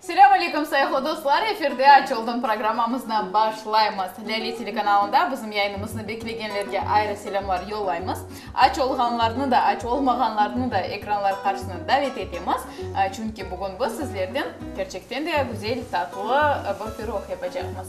Selâm aleykum sayıqlı dostlar, efirde Aç oldım programmamıznı başlaymız. Lâle telekanalında bizim yayınımıznı beklegenlerge ayrı selâmlar yollaymız. Aç olğanlarnı da, aç olmağanlarnı da ekranlar qarşısına davet etemiz, çünki bugün biz sizlerden kerçekten de güzel, tatlı bir pirog yapacaqmız.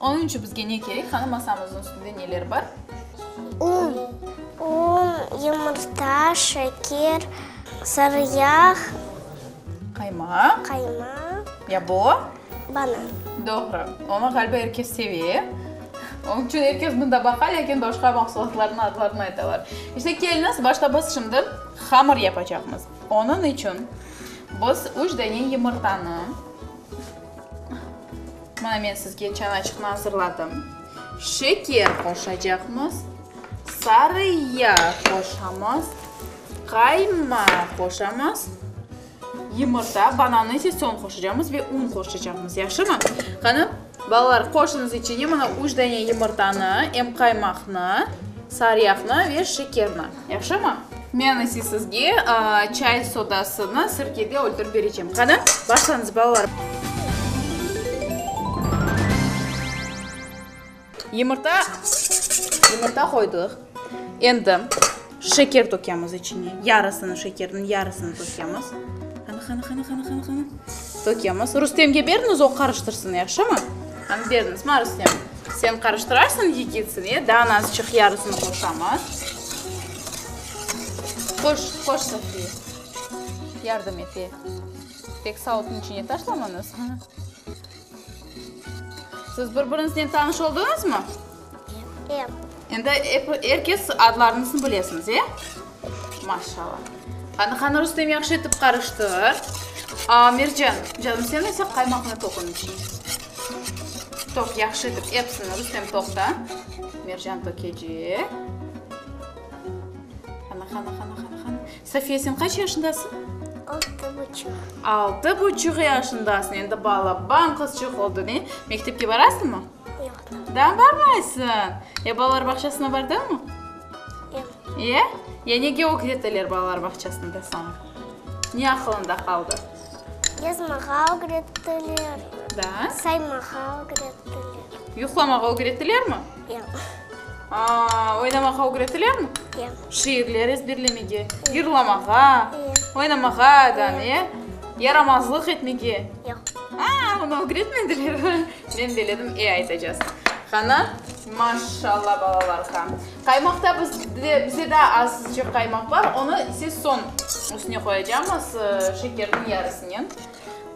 Onıñ içün bizge ne kerek? Qanı masamıznıñ üstünde neler bar? Un. Un, yumurta, şeker, sarı yağ. Qaymaq. Qaymaq. Ya bu? Banan. Doğru. Onı ğaliba er kes seve. Onıñ içün er kes mında baqa, lâkin başqa mahsulatlarnıñ adlarını aytalar. İşte, keliñiz, başta biz şimdi hamır yapacaqmız. Onıñ içün biz üç dane yumurtanı. Mana men sizge çanaçıqnı azırladım. Şeker qoşacaqmız, sarı yağ qoşamız, qaymaq qoşamız, yumurta, banannı ise soñ qoşacaqmız ve un qoşacaqmız, yahşımı? Qani, balalar, qoşunız içine mana üç dane yumurtanı, em qaymaqnı, sarı yağnı ve şekerni. Yahşımı? Men ise sizge çay sodasını sirkede öldürip berecem. Qani, başlañız, balalarım. Yumurta, yumurta qoydıq. Endi şeker tökemiz içine. Yarısını şekerniñ, yarısını tökemiz. Qani, qani, qani, qani, qani, qani. Tökemiz. Rustemge beriñiz, o qarıştırsın, yahşımı? Hangi derdimiz var Rustem? Sen qarıştırarsıñ yigitsini, e, daa nazçıq yarısını qoşamız. Qoş, qoş Sofiye. Yardım et, e. Tek sautnıñ içine taşlamanız. Siz bir-biriñiznen tanış oldıñızmı? Endi er kes adlarnısını bilesiñiz, e? Maşallah. Qani, qani, Rustem, yahşı etip qarıştır. Mercan, canım, sen ise qaymaqnı toq onıñ içine. Toq, yahşı etip, episini. Rustem, toqta. Mercan tökecek. Qani, qani, qani, qani, qani. Safiye, sen qaç yaşındasıñ? Altı buçuq. Altı buçuq yaşındasıñ. Endi balaban qızçıq oldıñ, e? Mektepke barasıñmı? Yoq. Daa barmaysıñ? Ya balalar bağçasına bardıñmı? Yoq. Ya? Ya nege ögreteler balalar bağçasında saña? Ne aqılıñda qaldı? Yazmağa ögrettiler. Daa? Saymağa ögrettiler. Yuqlamağa ögrettilermi? Yoq. Aa, oynamağa ögrettilermi? Yoq. Şiirler ezberlemege, yırlamağa, oynamağa, ya? Yaramazlıq etmege? Yoq. Aa, bunı ögretmediler. Men beledim, e aytacaz. Ğana. Maşşalla balalarqa. Qaymaqta biz de bize daa azıcıq qaymaq bar, onı ise soñ üstüne qoyacamız, şekerniñ yarısınen.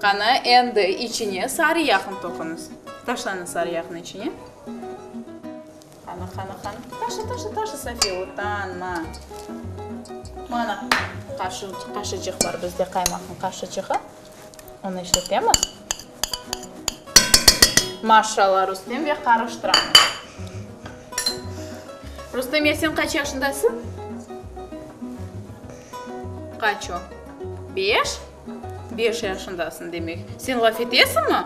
Qana, endi içine sarı yağnı toqunız. Taşlanı sarı yağnı içine. Qana, qana, qana. Taşı, taşı, taşı, Safiye, utanma. Mana qaşı qaşıcıq bar bizde, qaymaqnıñ qaşıcığı. Onı işletemiz. Maşşalla, Rustem ve qarıştıramız. Rustem ya sen qaç yaşındasıñ? Qaç o? Beş? Beş yaşındasıñ demek. Sen laf etesiñmi?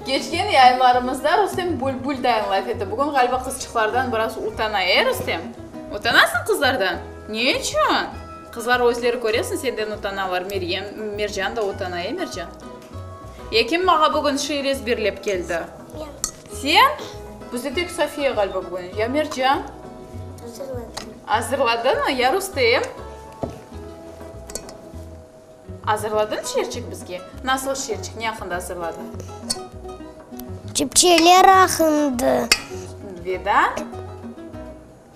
Keçken yayınlarımızda Rustem bülbül dayın laf etti. Bugün ğaliba qızçıqlardan biraz utana, e, Rustem? Utanasıñ qızlardan? Ne içün? Qızlar özleri, köresiñ, senden utanalar, Meryem, Mercan da utana, e, Mercan? Ya kim maña bugün şiir ezberlep keldi? Men. Sen? Bizde tek Sofiya ğaliba bugün. Ya Mercan? Azırladım. Azırladıñmı? Ya Rustem? Azırladıñ şiirçik bizge? Nasıl şiirçik, ne aqqında azırladıñ? Çipçeler aqqında. Ve da?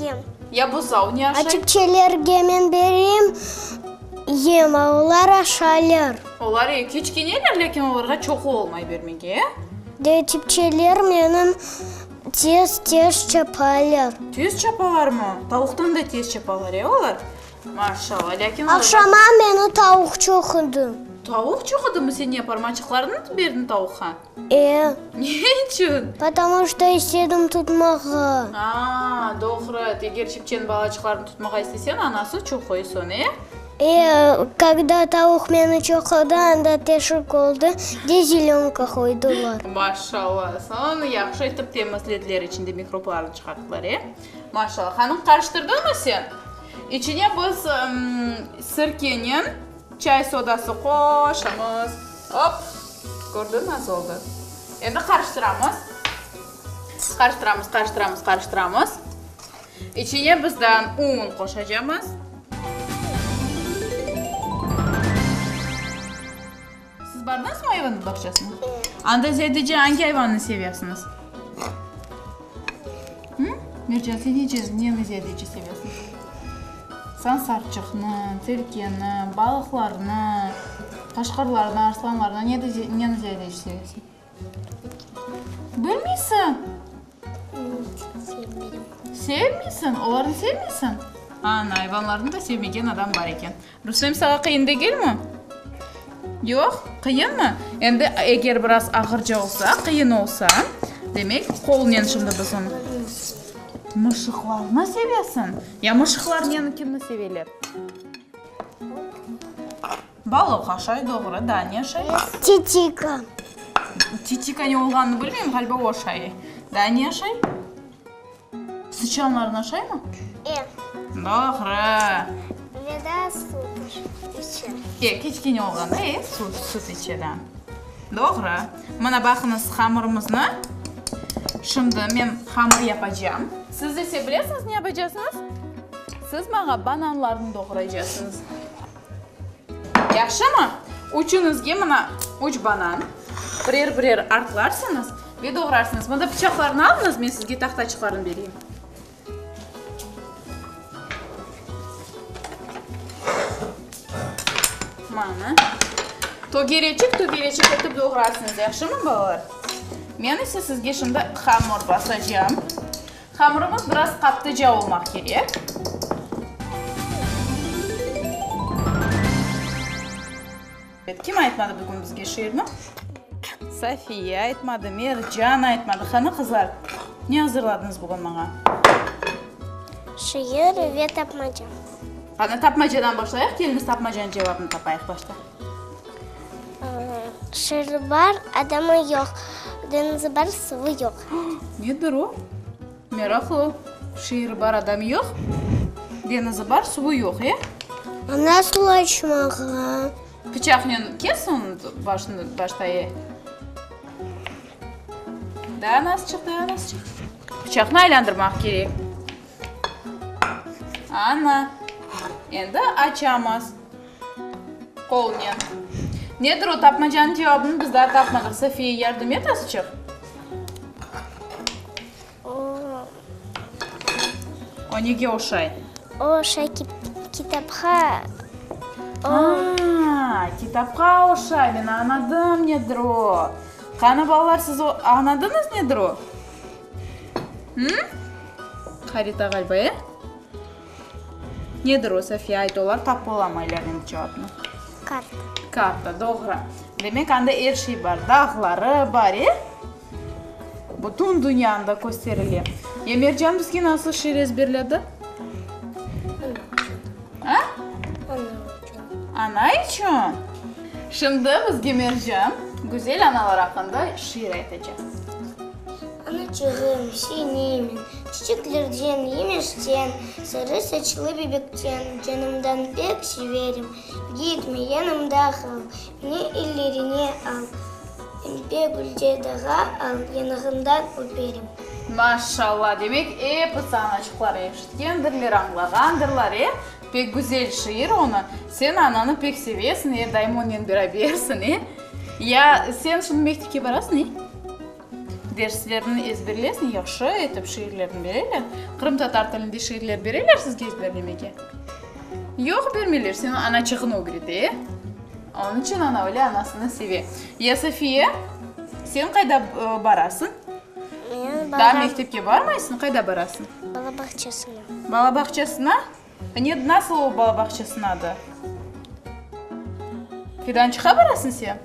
yem. Ya buzav ne aşay? Çipçelerge men berem yem, a olar aşaylar. Olar eki, üç keneler, lâkin olarğa çoqu olmay bermege, e? De, çipçeler menim tez-tez çapaylar. Tez çapalarmı? Tavuqtan da tez çapalar, e, olar? Maşallah, lâkin olar. Aqşama meni tavuq çoqudı. Tavuq çoqudımı seni? Parmaçıqlarıñnı berdiñ tavuqqa? Eee. Ne içün? Потому şto istedim tutmağa. Aa, doğru et, eger çepçen balaçıqlarnı tutmağa istesen, anası çoqoy soñ, e? Eee, kogda tavuq meni çoqodı, anda teşik oldı, de zelönka qoydılar. Maşallah, soñ yahşı etip temizlediler, içinde mikroblarnı çıqarttılar, e? Maşallah. Hanım, qarıştırdınmı sen? İçine biz sirkenen. Çay sodası qoşamız. Op! Kördiñ, nasıl oldı? Endi qarıştıramız. Qarıştıramız, qarıştıramız, qarıştıramız. İçine bizden un qoşacamız. Siz bardınızmı ayvanıñ bağçasına? Anda zâdece angi ayvannı sevesiñiz? Mercan, sen nece, neni ziyadece sevesiñ? Sen sarçıqnı, tilkini, balıqlarnı, qaşqırlarnı, arslanlarnı, nede, neni ziyadece sevesiñ? Bilmeysiñ? Sevmeysiñ? Olarnı sevmeysiñ? Ana, ayvanlarnı da sevmegen adam bar eken. Rustem, saña qıyın degelmi? Yoq, qıyınmı? Endi eger biraz ağırca olsa, qıyın olsa, demek, qolnen şimdi biz onı. Mışıqlarnı sevesiñ? Ya mışıqlar nenikini seveler? Balıq aşay, doğru. Daa ne aşay? Titika. Titika ne olğanını bilmeyim, ğaliba o aşay. Daa ne aşay? Sıçanlarnı aşaymı? E. Doğru. Veda sut içe. Tek kiçkene olğanda e, sut, sut içe, da. Doğru. Mına baqıñız hamırımıznı. Şimdi men hamır yapacam. Siz ise bilesiñiz ne yapacasıñız? Siz maña bananlarnı doğraycasıñız. Yahşımı? Üçüñizge mına üç banan, birer-birer artlarsıñız ve doğrarsıñız. Mında pıçaqlarnı alıñız, men sizge tahtaçıqlarnı bereyim. Mana. Tögereçik, tögereçik etip doğrarsıñız, yahşımı, balalar? Men ise sizge şimdi hamur basacağım. Hamırımız biraz qattıca olmaq kerek. Kim aytmadı bugün bizge şiirni? Safiye aytmadı, Mercan aytmadı. Qani, qızlar, ne azırladınız bugün maña? Şiir ve tapmaca. Qani, tapmacadan başlayıq. Keliniz tapmacanıñ cevabını tapayıq başta. Şeeri bar, adamı yoq, deñizi bar, suvı yoq. Nedir o? Meraqlı. Şeeri bar, adamı yoq, deñizi bar, suvı yoq, e? A nasıl açmağa? Pıçaqnen kes onı başını, başta, e. Daa nasıl çıqtı, daa nasıl çıqtı? Pıçaqnı aylandırmaq kerek. Ana, endi açamız. Polniya. Nedir o tapmacanıñ cevabını biz daa tapmadıq. Sofiya, yardım et azıçıq. O nege oşay? O oşay kitapqa. Aa, kitapqa oşay. Men añladım nedir o. Qani, balalar, siz añladıñız nedir o? Qarita ğaliba, e? Nedir o, Safiye? Ayt, olar tap olamay ilâveniñ cevabını. Karta. Karta, doğru. Demek, anda er şey bar. Dağları bar, e? Bütün dünya anda kösterile. Ya Mercan bizge nasıl şiir ezberledi? Aa? Ana içün? Şimdi bizge Mercan güzel analar aqqında şiir aytacaq. Anaçığım, senemen, çiçeklerden, yemişten, sarı saçlı bebekten canımdan pek severim. Gitme, yanımda qal, beni ellerine al, ince gülce dağa al, yanağından öperim. Maşallah! Demek, episi anaçıqlar eşitkendirler, añlağandırlar, e? Pek güzel şiir onı. Sen ananı pek sevesiñ, e, daim onnen berabersiñ, e? Ya sen şimdi mektepke barasıñ, e? Derslerni ezberlesiñ, yahşı etip şiirlerni bereler. Qırımtatar tilinde şiirler bereler sizge ezberlemege? Yoq, bermeyler, seni ana çığını ögrete, e? Onıñ içün ana öyle anasını seve. Ya Safiye, sen qayda barasıñ? Men, Daa mektepke barmaysıñ, qayda barasıñ? Bala bağçasına. Balabağçasına? Ned, nasıl ol balabağçasınadı? Fidançıqa barasıñ sen?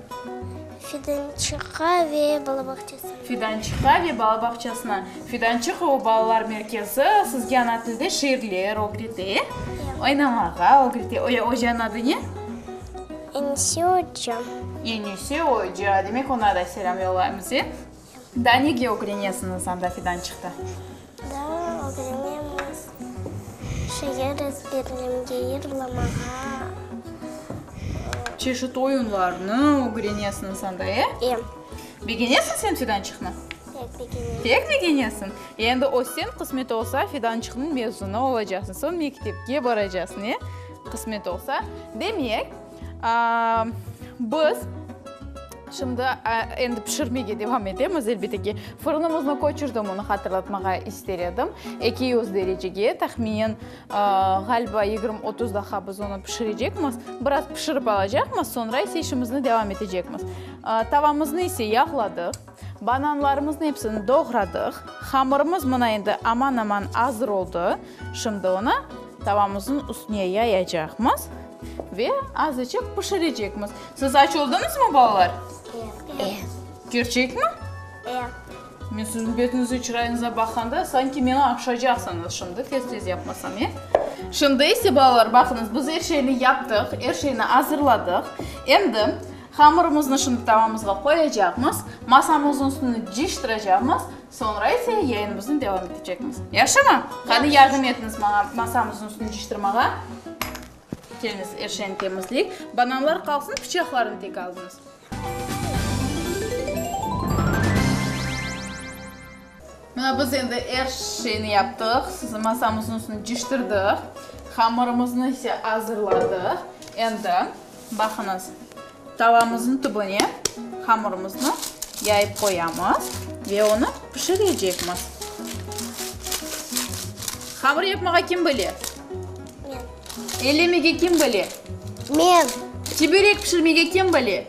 Fidançıqa ve balabağçasına. Fidançıqa ve balabağçasına. Fidançıq o balalar merkezi sizge ana tilde şiirler ögrete, e? Oynamağa ögrete. O ya ocanıñ adı ne? Enise oca. Enise oca. Demek, oña da selâm yollaymız, e? Daa nege ögrenesiñiz anda fidan çıqtı? Daa ögrenemiz şiir ezberlemge, yırlamağa. Çeşit oyunlarnı ögrenesiñiz anda, e? E. Begenesiñ sen fidan çıqnı? Pek begenem. Pek begenesiñ. Endi össen qısmet olsa fidançıqnıñ mezunı olacaqsıñ, soñ mektepke baracaqsıñ, e? Qısmet olsa. Demek, Biz şimdi endi pişirmege devam etemiz. Elbette ki, fırınımıznı köçürdim, onı hatırlatmağa ister edim. Eki yüz derecege, tahminen, ğaliba, yigirmi, otuz daqiqa biz onı pişirecekmiz. Biraz pişirip alacaqmız, sonra ise işimizni devam etecekmiz. Tavamıznı ise yağladıq. Bananlarımıznı epsini doğradıq. Hamırımız mına endi aman-aman azır oldı. Şimdi onı tavamızın üstüne yayacaqmız ve azıcıq pişirecekmiz. Siz aç oldıñızmı, balalar? E. Kerçekmi? E. Men siziñ betiñizge, çırayıñızğa baqanda, sanki meni aqşacaqsıñız şimdi, tez-tez yapmasam, e? Şimdi ise, balalar, baqıñız, biz er şeyni yaptıq, er şeyni azırladıq. Endi. Hamırımıznı şimdi tavamızğa qoyacaqmız, masamıznıñ üstüni cıyıştıracaqmız, soñra ise yayınımıznı devam etecekmiz. Yahşımı? Qani, yardım etiñiz maña masamıznıñ üstüni cıyıştırmağa. Keliñiz, er şeyni temizleyik. Bananlar qalsın, pıçaqlarnı tek alıñız. Mına biz endi er şeyni yaptıq, sizni masamıznıñ üstüne ciştirdik, hamırımıznı ise azırladıq. Endi baqıñız, tavamıznıñ tübüne hamırımıznı yayıp qoyamız ve onı pişirecekmiz. Hamır yapmağa kim bile? Men. Ellemege kim bile? Men. Çiberek pişirmege kim bile?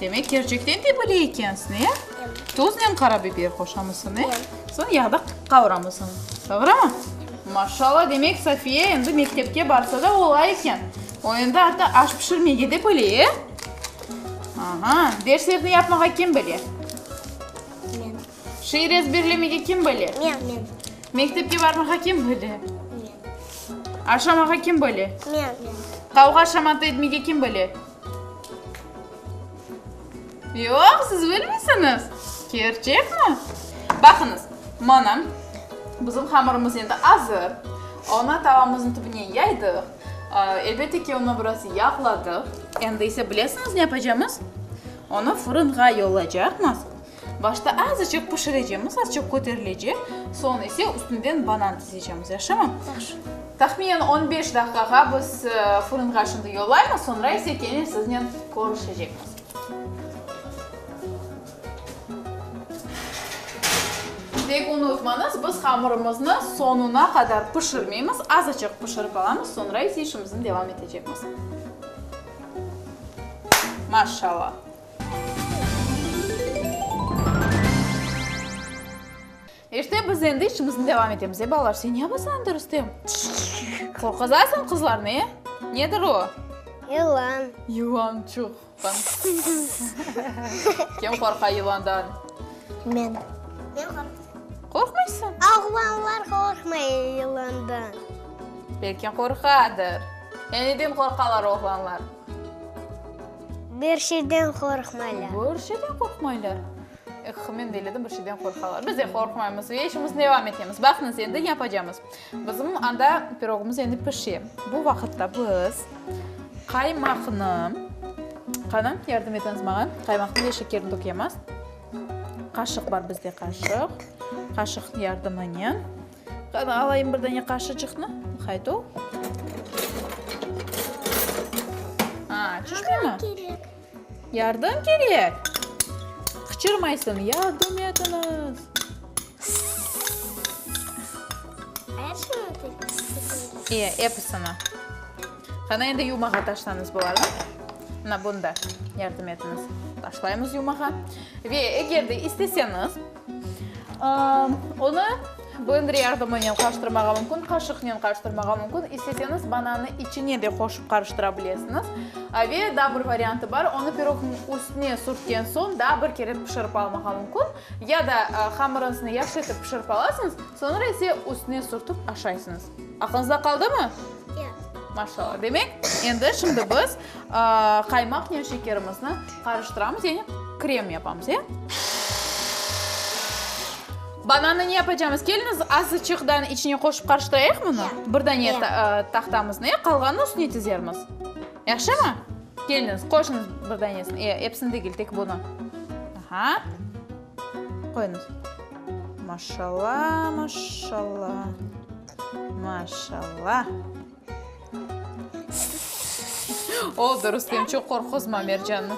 Demek, kerçekten de bile ekensiñ, e? Tuznen qara biber qoşamısıñ, e? Soñ yağda qavuramısıñ, doğrumı? Maşallah, demek, Safiye endi mektepke barsa da ola eken. O endi artı aş pişirmege de bile, e? Aha, derslerni yapmağa kim bile? Men. Şiir ezberlemege kim bile? Men, men. Mektepke barmağa kim bile? Men. Aşamağa kim bile? Men, men. Qavğa-şamata etmege kim bile? Yoq, siz bilmisiñiz. Kerçekmi? Baqıñız, mana, bizim hamırımız endi azır. Onı tavamıznıñ tübüne yaydıq. Elbette ki, onı biraz yağladıq. Endi ise bilesiñiz ne yapacamız? Onı fırınğa yollaycaqmız. Başta azıcıq pişirecemiz, azıcıq köterilecek, soñ ise üstünden banan dizecemiz, yaşımı? Yaxşı. Tahminen on beş daqiqağa biz fırınğa şimdi yollaymız, soñra ise kene siznen körüşecekmiz. Tek unutmañız, biz hamırımıznı soñuna qadar pişirmeymiz, azıcıq pişirip alamız, soñra ise işimizni devam etecekmiz. Maşşalâ! İşte biz endi işimizni devam etemiz. E, balalar, sen ne yapasıñ anda, Rustem? Qorquzasıñ qızlarnı, e? Nedir o? Yılan. Yılan, çoq. Kim qorqa yılandan? Men. Men qorqam. Qorqmaysıñ? Oğlanlar qorqmay yılandan. Belki qorqadır. E, neden qorqalar oğlanlar? Bir şeyden qorqmaylar. Bir şeyden qorqmaylar. Eh, men de eledim, bir şeyden qorqalar. Biz de qorqmaymız ve işimizni devam etemiz. Baqıñız, endi ne yapacamız? Bizim anda pirogımız endi pişe. Bu vaqıtta biz qaymaqnı, qani, yardım etiñiz maña, qaymaqnı ve şekerni tökemiz. Qaşıq bar bizde, qaşıq. Qaşıq yardımınen. Qani, alayım bir dane qaşıcıqnı. Hayt o. A, çüşmey mi? Kerek. Yardım kerek. Qıçırmaysın, yardım etiniz. İye, episini. Qani, endi yumağa taşlanız bularnı. Mına bunda yardım etiniz. Taşlaymız yumağa. Ve eger de isteseniz, Onı blendere yardımınen qarıştırmağa mümkün, qaşıqnen qarıştırmağa mümkün, isteseñiz banannı içine de qoşıp qarıştıra bilesiñiz. Ve daa bir variantı bar, onı pirogniñ üstüne sürtken soñ daa bir kere pişirip almağa mümkün. Ya da hamırıñıznı yahşı etip pişirip alasıñız, soñra ise üstüne sürtip aşaysıñız. Aqlınızda qaldımı? Ya. Maşallah. Demek, endi şimdi biz Qaymaknen şekerimizni qarıştıramız, yani krem yapamız, ya. Banannı ne yapacağımız? Keliñiz, azıçıqtan içine qoşup qarıştırayıq bunı. Bir dane tahtamıznı, ya, qalğanını üstüne tizermiz. Yahşımı? Keliñiz, qoşuñız bir danesini, ya, episini degil, tek bunı. Aha. Qoyuñız. Maşallah, maşallah. Maşallah. Oldı, Rustem, çoq qorquzma Mercannı.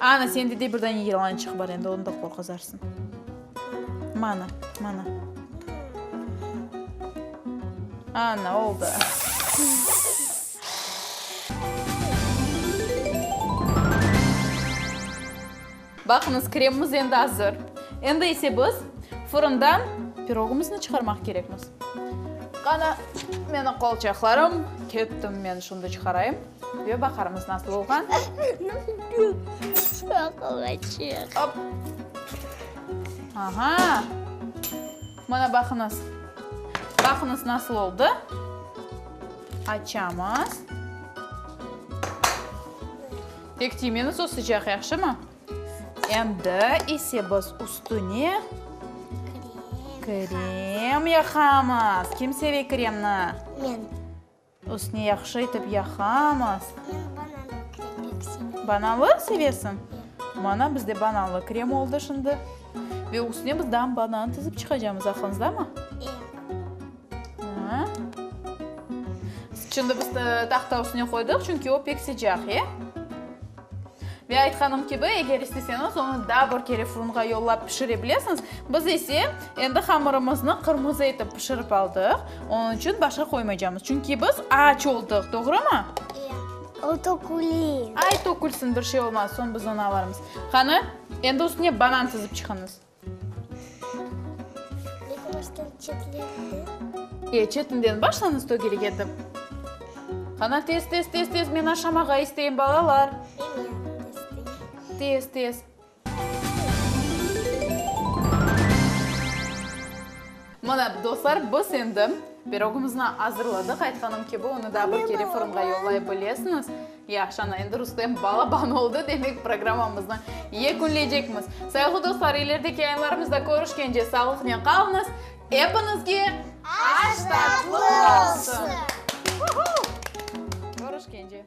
Ana, sende de bir dane yılançıq bar, endi onı da qorquzarsıñ. Mana, mana. Ana, oldı. Baqıñız, kremimiz endi azır. Endi ise biz fırından pirogımıznı çıqarmaq kerekmiz. Qana, meniñ qolçaqlarım. Kettim men şundı çıqarayım ve baqarmız nasıl olğan. Şoqlaçıq. Op. Aha. Mana baqıñız. Baqıñız nasıl oldı. Açamız. Tek tiymeñiz, o sıcaq, yahşımı? Endi ise biz üstüne krem yaqamız. Kim seve kremni? Men. Üstüne yahşı etip yaqamız. Bananlı sevesiñ? Mana bizde bananlı krem oldı şimdi. Ve üstüne biz daa banan tizip çıqacamız, aqlıñızdamı? Şimdi biz tahta üstüne qoydıq, çünki o pek sıcaq, e? Ve aytqanım kibi, eğer isteseñiz, onı daa bir kere fırınğa yollap pişire bilesiñiz. Biz ise endi hamırımıznı qırmızı etip pişirip aldıq, onıñ içün başqa qoymaycamız. Çünki biz aç oldıq, doğrumı? Eee, o tökülir. Ay, tökülsin, bir şey olmaz, soñ biz onı alarmız. Qani, endi üstüne banan sızıp çıqıñız. E, çetinden başlañız tögelik etip. Qana, tez, tez, tez, tez, men aşamağa isteyim, balalar. Tez, tez. Mına, dostlar, biz endi pirogımıznı azırladıq. Aytqanım kibi, onı da bir kere fırınğa yollay bilesiñiz. Yahşı, ana, endi Rustem balaban oldı, demek, programmamıznı yekünleycekmiz. Sayıqlı dostlar, ilerdeki yayınlarımızda körüşkence sağlıqnen qalıñız. Epiñizge aş tatlı olsun! Körüşkence!